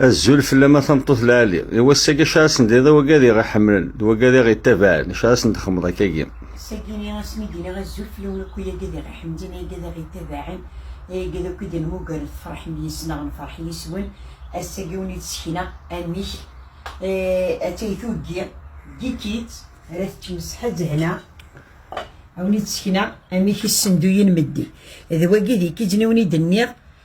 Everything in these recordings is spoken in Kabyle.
Azul fell-am a tameṭṭut lɛali. I wass-agi acu ara sen-d-tiniḍ i wagad i ɣ-iḥemmlen, d wagad i ɣ-ittabaɛen, acu ara sen-d-txedmeḍ akkagi? Seg-ini asmi i d-nniɣ azul fell-awen akk ay agad i ɣ-iḥemmlen, ay agad i ɣ-ittabaɛen, ay agad akk i d-nemmuger tefṛeḥem yis-neɣ nefṛeḥ yis-wen, ass-agi i wen-id-ssekneɣ amek attay tuggi, gikit, ara teččem s ṣṣeḥa d lehna, a wen-id-ssekneɣ amek issenduyen meddi, d wagi d ikijjn i wen-id-nniɣ.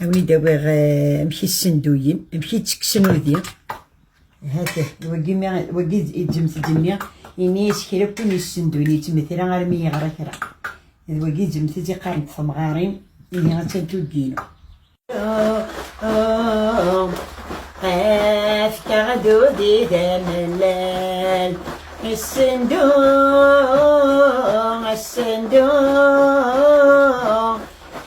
Awen-id awiɣ eh, amek i ssenduyen, amek i ttekksen udi. Hata, wagi mi wagi idzemtedni ini isekra kun yessenduyen yettmetira armi yeɣra kra. D wagi idzemted iqarent temɣarin ini attan tuddin. Efka dudi d amellal Assendu, assendu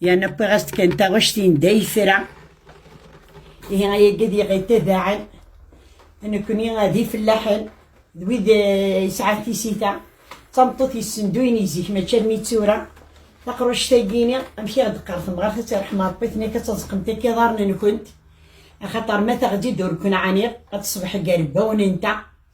Yerna wwiɣ-as-d kan taɣect-in d ayefra. Ihi ayagi ad iɣi tabaɛen. Nekni d ifellaḥen, d wid eh, yesɛa tisita. D tameṭṭut yessenduyen i zik, mačči armi d tura. Taqruct-agi-ini, amek i ɣ-d-qqar temɣart ad terḥem Ṛebbi-ten akka ad taẓeqemt akka iḍarren-nkent. Axaṭer ma taɣ-d-id ur ken-ɛaniɣ, ad teṣbeḥ gar wbawen-nteɣ.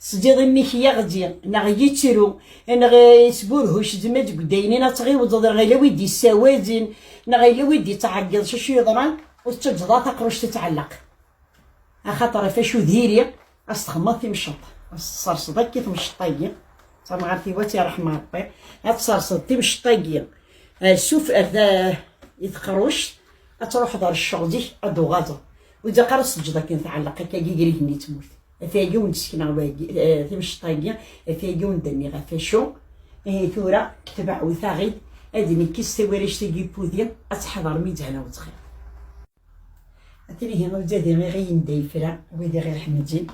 Tesdiḍ imi-k yaɣ-di, neɣ yittru, neɣ isburhuc zmed deg udaynin ad tɣiwdeḍ, neɣ yella wi d-issawazen, neɣ yella wi d-ittɛeggiḍ s acu yeḍran, ur tettaǧǧeḍ ara taqruct ad tɛelleq. Axaṭer ɣef acu diri, ad s-txedmeḍ timceḍt, ad s-tesserseḍ akka temceḍt-agi, d tamɣart-iw ad tt-irḥem Ṛebbi, ad tesserseḍ timceḍt-agi ar suf ar ta i teqruct, ad truḥeḍ ar cceɣl zik ad d-tuɣazeḍ, ur ilaq ara ad s-teǧǧeḍ akken tɛelleq akka gar igenni d tmurt. Atagi ur d-sekneɣ wagi, eh, timceṭ-agi, atagi ur d-nniɣ ɣef acu. Eh, tura, ketbeɣ u taɣid, ad nekkes tawaract-agi pudi, ad teḥḍer mi d-hana wetxir. Atnihi ur d-adi iɣiyen da yefra, wid iɣir ḥemedin.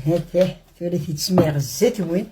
Hatah, tura t-id-smiɣ zzat-wen,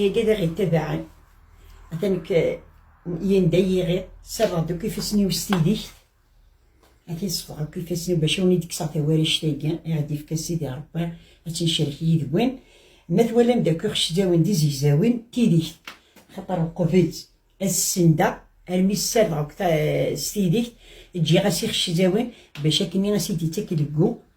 Yagi d iɣi tabaɛen. Atan k yenda yiɣi sarreɣ deg ifassen-iw s tidikt. Atin sefɣeɣ deg ifassen-iw bac awen i d-kkseɣ tawarect-agi i ɣ-d-yefka Sidi Rebbi ad tt-ncerrek yid-wen. Ma twalam d akk iɣeczawen d izegzawen d tidikt. Axaṭer uqbel ad s-sendeɣ armi ssardeɣ s tidikt, ǧǧiɣ-as iɣeczawen bac akken i as-id-ittak deg u.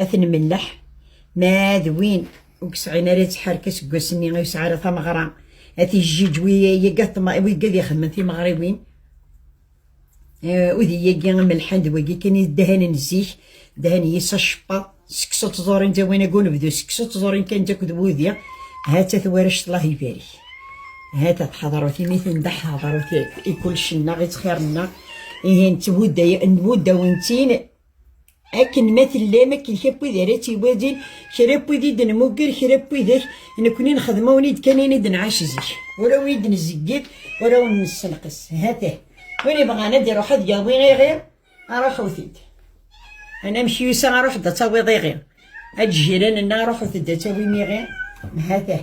ad ten-melleḥ ma d win ur yesɛin ara ttḥerka seg wass-nni ur yesɛi ara tameɣra ad t-yejjij wigga ad ixedmen timeɣriwin udiyagi amelḥan d wagi kan i ddahanen zik ddahan yis acebbaḍ seksu tẓurin d awin agun bdu seksu tẓurin kan d akked wudi ha-tt-a twarect Allah ibarik ha-tt-a tḥadrut imi tenda ḥadrut i kulec-nneɣ i ttxir-nneɣ ihi nettwudda-wen-tt-in akken ma tellam akken kra n wid ara tt-iwadin kra n wid i d-nmugger kra n widak nekkni nexdem awen-id kan ini d-nɛac zik ur awen-id nzeggir ur awen-nessenqes ha-t-ah win ibɣan ad iruḥ ad yawi iɣi aruḥut-id anamek yusa aruḥ-d ad tawiḍ iɣi ad jiran-nneɣ ruḥut-d ad tawim iɣi ha-t-ah